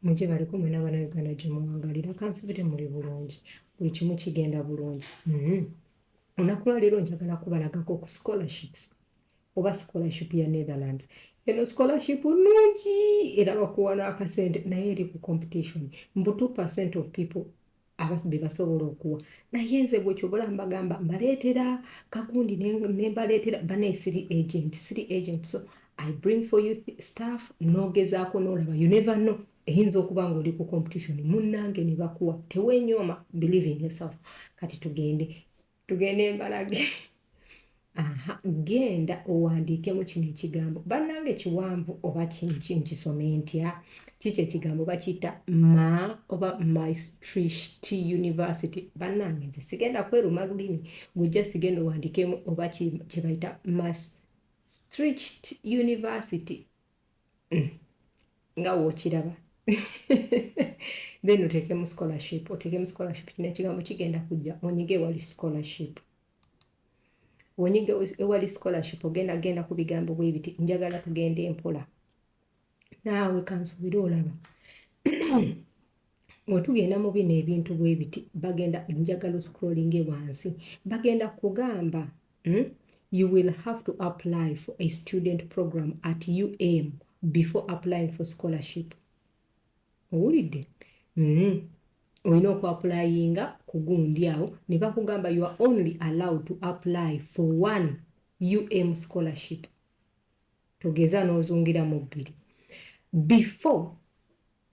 mujje baliko mwena abana uganda gyemuwangalira kansubire muli bulungi buli kimu kigenda bulungi mm-hmm. olunaku lwaleero njagala kubalagako ku scholarships oba scholarship ya netherlands eno scholarship nungi era bakuwa n'akasente naye eri ku competition mbu 2 percent of people bebasobola okuwa naye nze gwe kyobola mbagamba mbaleetera kagundi nembaleetera banaye siri agent siri agent so i bring for you staff nogezaako nolaba you never know eyinza okuba nga oli ku competition munnange ne bakuwa tewenyooma believe in yourself kati tugende tugende embalage aha genda owandiikemu kino ekigambo bannange kiwanvu oba nkisome ntya kiki ekigambo bakiyita ma oba mystricht university bannange nze sigenda kweruma lulimi gwe just genda owandiikemu oba kyebayita mystricht university mm. nga wokiraba then oteekemu scholarship oteekemu scholarship kino ekigambo kigenda kujja onyige ewali scholarship wonyige ewali scholarship ogenda genda ku bigambo bwe biti njagala tugende mpola naawe kansuubire olaba Wetugenda mu bino ebintu bwe biti bagenda njagala scrolling wansi bagenda kugamba hmm? you will have to apply for a student program at UM before applying for scholarship owulidde mm. olina okuapulayinga ku gundi awo ne bakugamba you are only allowed to apply for one um scholarship togeza n'ozungira mu bbiri before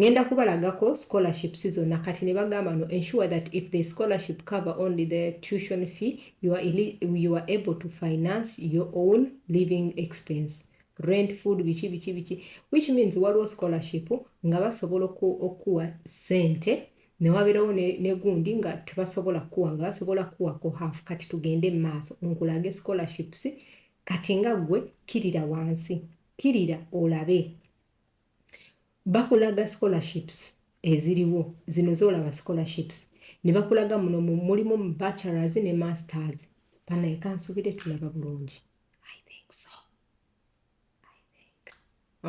ngenda kubalagako scholarships zonna kati ne bagamba no ensure that if the scholarship cover only the tuition fee you are, you are able to finance your own living expense rent food biki biki biki which means waliwo scholarship nga basobola okuwa sente newabeerawo negundi nga tebasobola kuwa nga basobola kuwako half kati tugende mu maaso nkulage scholarships kati nga gwe kirira wansi Kkirira olabe. Bakulaga scholarships eziriwo. Zino z'olaba scholarships. Ne bakulaga muno mulimu bachelors ne masters. Banaye kansubire tulaba bulungi. I think so. I think.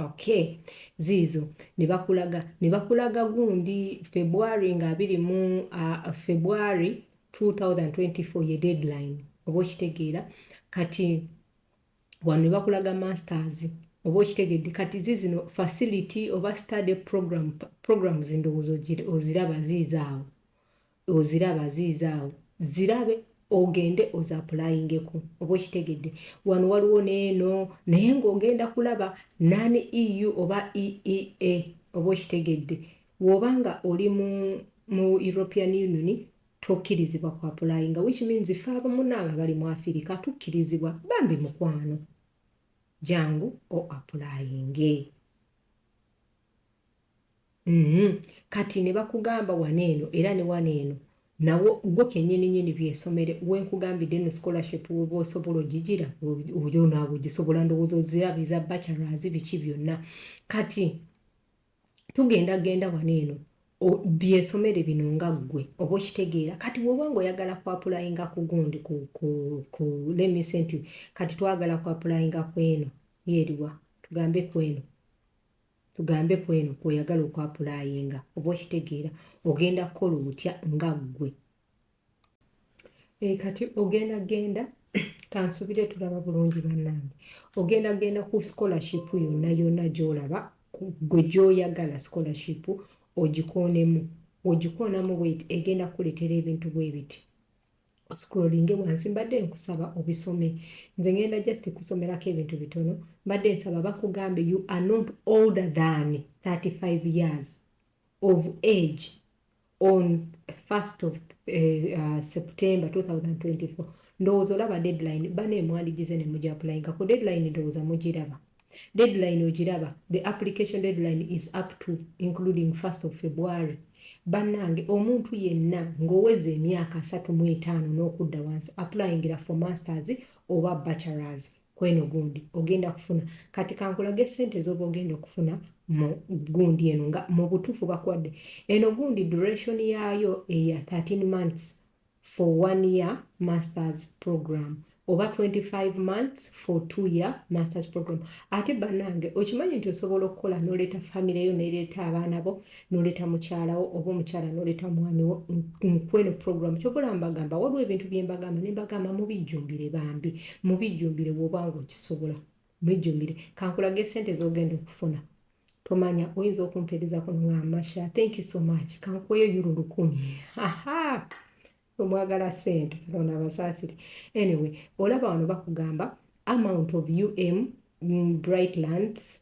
Okay. Ziizo. Ne bakulaga. Ne bakulaga gundi February nga abiri mu uh, February 2024 ye deadline. Oba okitegeera. Kati wano nebakulaga masters oba okitegedde kati zizino facility oba study program programs ndowooza oziraba ziizaawo oziraba ziizaawo zirabe ogende ozapulayingeko oba okitegedde wano waliwo neeno naye ngaogenda kulaba nani eu oba eea oba okitegedde woba nga oli mu european union Tokirizibwa ku apulayinga which means ffe abamunange abali mu Afirika tukirizibwa bambi mukwano jangu o apulayinge mm -hmm. kati ne bakugamba wano eno era ne wano eno nawo gwo kenyini nyini byesomere wenkugambidde no scholarship woba osobola ogigira oyo naawe ogisobola ndowooza ozirabiza bachelors biki byonna kati tugenda genda wano eno byesomere bino nga ggwe oba okitegeera kati bwoba nga oyagala kwapulayinga ku gundi ku lemise nti kati twagala kwapulayinga ku eno yeeriwa tugambe ku eno tugambe ku eno kweoyagala okwapulayinga oba okitegeera ogenda kukola otya nga ggwe Eh, kati ogenda genda kansubire tulaba bulungi bannange ogenda genda ku scholarship yonna yonna gyolaba gwe gyoyagala scholarship ogikoonemu ogikoonamu bweti egenda kukuletera ebintu bwebiti scrollinge wansi mbadde nkusaba obisome nze ngenda just kusomerako ebintu bitono mbadde nsaba bakugambe you are not older than 35 years of age on 1st of eh, uh, September 2024 ndowooza olaba deadline bana emwandigize ne muja applyinga ku deadline ndowooza mugiraba deadline ogiraba the application deadline is up to including 1st of February bannange omuntu yenna ng'oweza emyaka asatu mu etaano n'okudda wansi applyingira for masters oba bachelors kweno gundi ogenda kufuna kati kankulage sente zoba ogenda okufuna mu gundi eno nga mu butuufu bakuwadde eno gundi duration yaayo eya 13 months for one year masters program oba 25 months for two year masters program ate banange okimanyi nti osobola okukola noleeta famire yo nereeta abaana bo noleta mukyalawo oba omukyala noleta mwami wo nkweno program kyobola mbagamba waliwo ebintu byembagamba nembagamba mubijjumbire bambi mubijjumbire wobanga okisobola mubijjumbire kankulage sente zogenda okufuna tomanya oyinza okumpereza kuno nga masha thank you so much kankuweyo yuro lukumi omwagala sente katonda abasaasire anyway olaba wano bakugamba amount of um mm, bright lands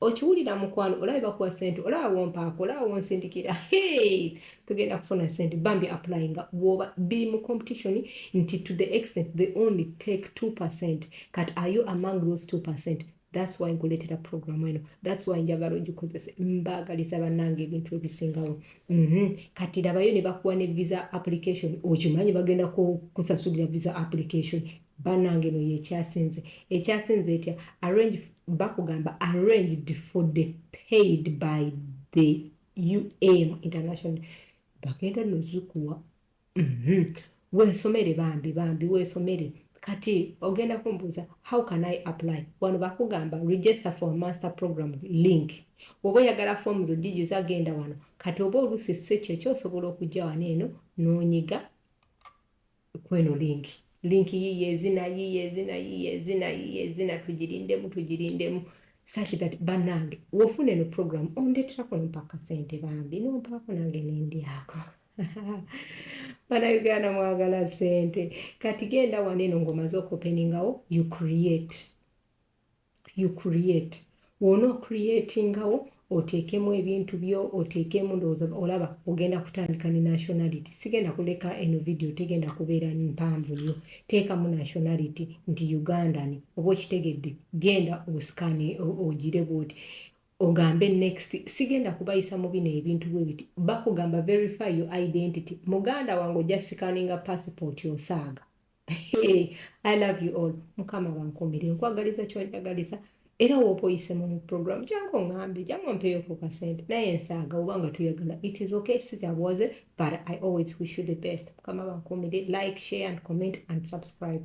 okiwulira mukwano olaba bakuwa sente olaba wompaako olaba wonsindikira tugenda kufuna sente bambi apply nga woba biri mu competition nti to the extent they only take 2 percent kat are you among those 2 percent thats why nkuleetera programu eno thats why njagala ogikozese mbaagaliza bannanga ebintu ebisingawo mhm. kati labayo ne bakuwa ne visa application okimanyi bagenda kusasulira visa application banange no yekyasinze ekyasinze etya arrange bakugamba arranged for the paid by the um international bagenda nozukuwa mhm. wesomere bambi bambi wesomere kati ogenda kumbuuza how can i apply wano bakugamba register for master program link oba oyagala foomu zojijuza agenda wano kati oba oluusi si kyo kyosobola okujja wano eno nonyiga kweno link. Link yiyo ezina yiyo ezina yiyo ezina yiyo ezina tujirindemu tujirindemu such that banange wofuna eno program ondeterako nompaka sente bambi nompako nange nendyako bana uganda mwagala sente kati genda waneno ngomaze okopeningawo you create you create wona okreatingawo oteekemu ebintu byo oteekemu ndowooza olaba ogenda kutandika ne nationality sigenda kuleka eno vidiyo tegenda kubeera mpanvu nnyo teekamu nationality nti ugandan oba okitegedde genda osikani ogire bwoti ogambe next sigenda kubayisa mu bino ebintu bwe biti bakugamba verify your identity muganda wange ojja sikaninga passport osaaga I love you all mukama bankumire nkwagaliza kyonjagaliza era woba oyisemu mu program jangu ngambe jangu mpeyo ku kasente naye nsaaga oba nga tuyagala it is okay sikyabwaze but i always wish you the best mukama bankumire like share and comment and subscribe